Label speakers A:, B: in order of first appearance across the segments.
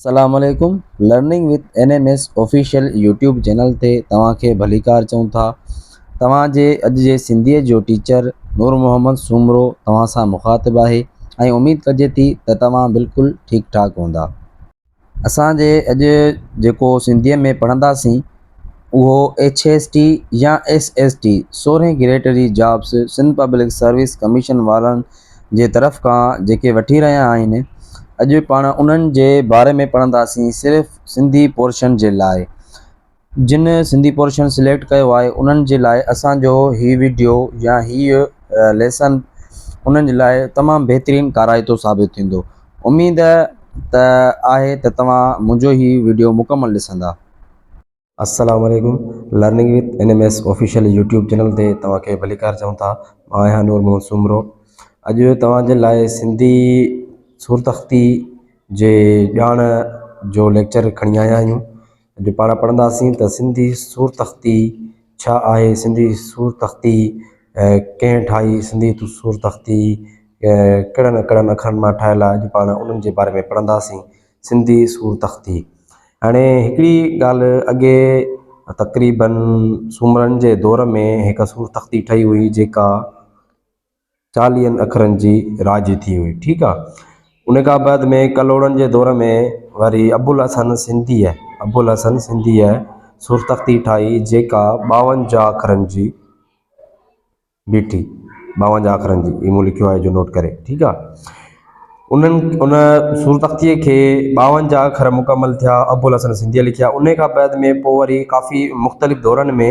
A: السلام عليڪم learning with N M S official YouTube channel تي توهان کي ڀليڪار چئون ٿا توهان جي اڄ جي سنڌي جو ٽيچر نور محمد سومرو توهان سان مخاطب آهي ۽ اميد ڪجي ٿي ته توهان بلڪل ٺيڪ ٺاڪ هوندا اسان جي اڄ جيڪو سنڌيء ۾ پڙهنداسين اهو ايڇ ايس ٽي يا ايس ايس ٽي، سورهين گريڊ جي jobs Sindh public service commission وارن جي طرف کان جيڪي وٺي رهيا آهن، اڄ پاڻ انهن جي باري ۾ پڙهنداسين صرف سنڌي پورشن جي لاء. جن سنڌي پورشن سليڪٽ ڪيو آهي انهن جي لاء اسان جو هي وڊيو يا هي ليسن انهن جي لاء تمام بهترين ڪارائتو ثابت ٿيندو اميد ته آهي ته توهان منهنجو هي وڊيو مڪمل ڏسندا. السلام
B: عليڪم learning with N M S official YouTube channel تي توهان کي ڀليڪار چئون ٿا مان آهيان نور محمد سومرو اڄ توهان جي لاء سنڌي سورتخطي جي ڄاڻ جو ليڪچر کڻي آيا آهيون اڄ پاڻ پڙهنداسين ته سنڌي سورتختي ڇا آهي، سنڌي سورتختي ڪنهن ٺاهي، سنڌي سورتختي ڪهڙن ڪهڙن اکرن مان ٺاهيل آهي، اڄ پاڻ انهن جي باري ۾ پڙهنداسين. سنڌي سورتختي هاڻي هڪڙي ڳالهه اڳي تقريبن سومرن جي دور ۾ هڪ سورتختي ٺهي هئي جيڪا. چاليهن اکرن جي راڄي ٿي هئي. ٺيڪ آ. ان کان بعد ۾ ڪلهوڙن جي دور ۾ وري ابوالحسن سنڌيء، Abulhasan Sindhiy، سورتختي ٺاهي جيڪا ٻاونجاهه اکرن جي بيٺي. ٻاونجاهه اکرن جي. هي مون لکيو آهي جو نوٽ ڪري. ٺيڪ آ. انهن ان سورتختيء کي ٻاونجاهه اکر مڪمل ٿيا ابوالحسن سنڌيء لکيا. ان کان بعد ۾ پوء وري ڪافي مختلف دورن ۾.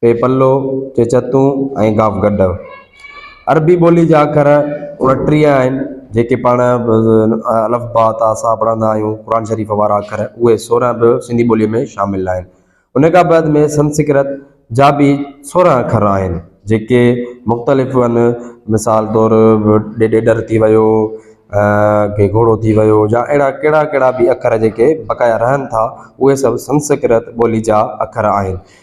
B: پي پلو، چي چتون ۽ گاف گڏ. عربي ٻولي جا اکر اڻٽيهه آهن، جيڪي پاڻ الف باء تاء ثاء پڙهندا آهيون، قرآن شريف وارا اکر، اهي سورهن به سنڌي ٻوليء ۾ شامل آهن. ان کان بعد ۾ سنسڪرت جا به سورهن اکر آهن، جيڪي مختلف آهن، مثال طور ڏيڏر ٿي ويو، ڪي گهوڙو ٿي ويو يا اهڙا ڪهڙا ڪهڙا به اکر جيڪي بقايا رهن ٿا، اهي سڀ سنسڪرت ٻولي جا اکر آهن.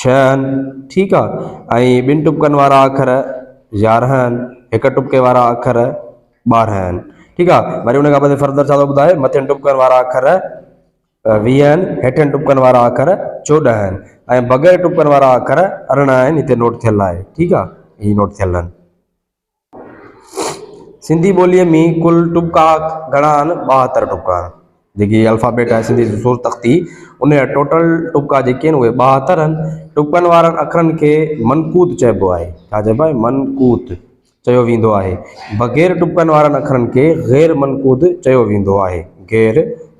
B: ڇهه آهن، ٺيڪ آ، ۽ ٻن ٽپڪن وارا اکر يارهن آهن، هڪ ٽپڪي وارا اکر ٻارهن آهن، ٺيڪ آ، وري ان کان پوء فردر ڇا ٿو ٻڌائي مٿين ٽپڪن وارا اکر ويهه آهن، هيٺين ٽپڪن وارا اکر چوڏهن آهن، ۽ بغير ٽپڪن وارا اکر ارڙهن آهن، هتي نوٽ ٿيل آهي، ٺيڪ آ، هي نوٽ ٿيل آهن. سنڌي ٻوليء ۾ ڪل ٽپڪا گهڻا آهن؟ ٻاهتر ٽپڪا آهن. جيڪي الفابيٽ آهي سنڌي جي سور تختي، ان جا ٽوٽل ٽپڪا جيڪي آهن اهي ٻاهتر آهن. ٽپڪن وارن اکرن کي منقوط چئبو آهي. ڇا چئبو آهي؟ منقوط چيو ويندو آهي. بغير ٽپڪن وارن اکرن کي غير منقوط چيو ويندو آهي. غير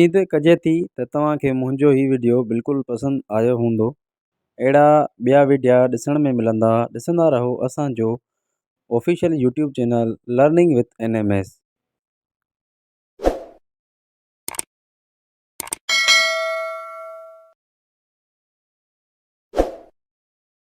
A: اميد ڪجي ٿي ته توهان کي منهنجو هي وڊيو بلڪل پسند آيو هوندو اهڙا ٻيا وڊيا ڏسڻ ۾ ملندا ڏسندا رهو اسانجو official YouTube channel learning with N M S